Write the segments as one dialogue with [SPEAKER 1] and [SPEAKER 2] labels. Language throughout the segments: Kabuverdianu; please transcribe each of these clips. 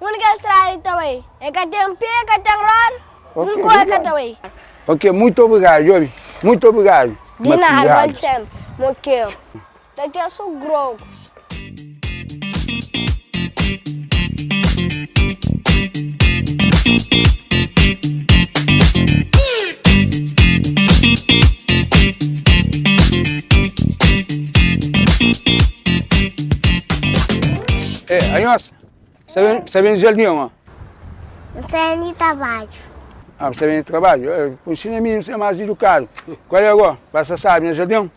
[SPEAKER 1] Un ke strae ta bai. E ka ten pe ka ten roda. Un kore ka ta bai. Ok mutu obrigadu jobi. Mutu obrigadu. Di nada vale sempre mo kero ta ten so grogu. E anhosa Sa ben, sa ben di jardin ama? N sa ben di trabadju. Ah, bu sa ben di trabadju? Eh, bu nsina mi, bu sa mas edukadu. Kual é agó? Ba sa sabi na jardin?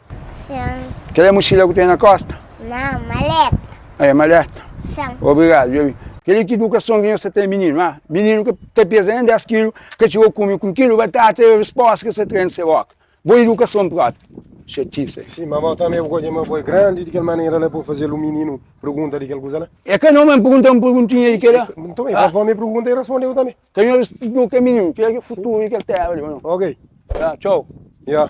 [SPEAKER 1] Sen. Kel é muxila ku ten na kosta? Nan, maleta. Ah, é maleta? Sen. Obrigadu, dja bin. Kel-li ki idukason ki nhos sa ten mininu, ah? Mininu ka ta peza nen 10 kilu, ka txiga kume ku un kilu batata, é respósta ki sa trena se boka. Bo idukason propi. Xatise. Sim, ma bo tanbe bu ka odja ma bo é grandi di kel manera la pa bu fazê-l un mininu pergunta di kel kuza la? É ka nau ma N pergunta-l un perguntinha di kela. Nton, el avó mi pergunta i respondeu tanbe. Ka nhos responde nu ka é mininu. Kel ki é futuru di kel Téra li, ô nau? Ok. Ya, txau. Ya.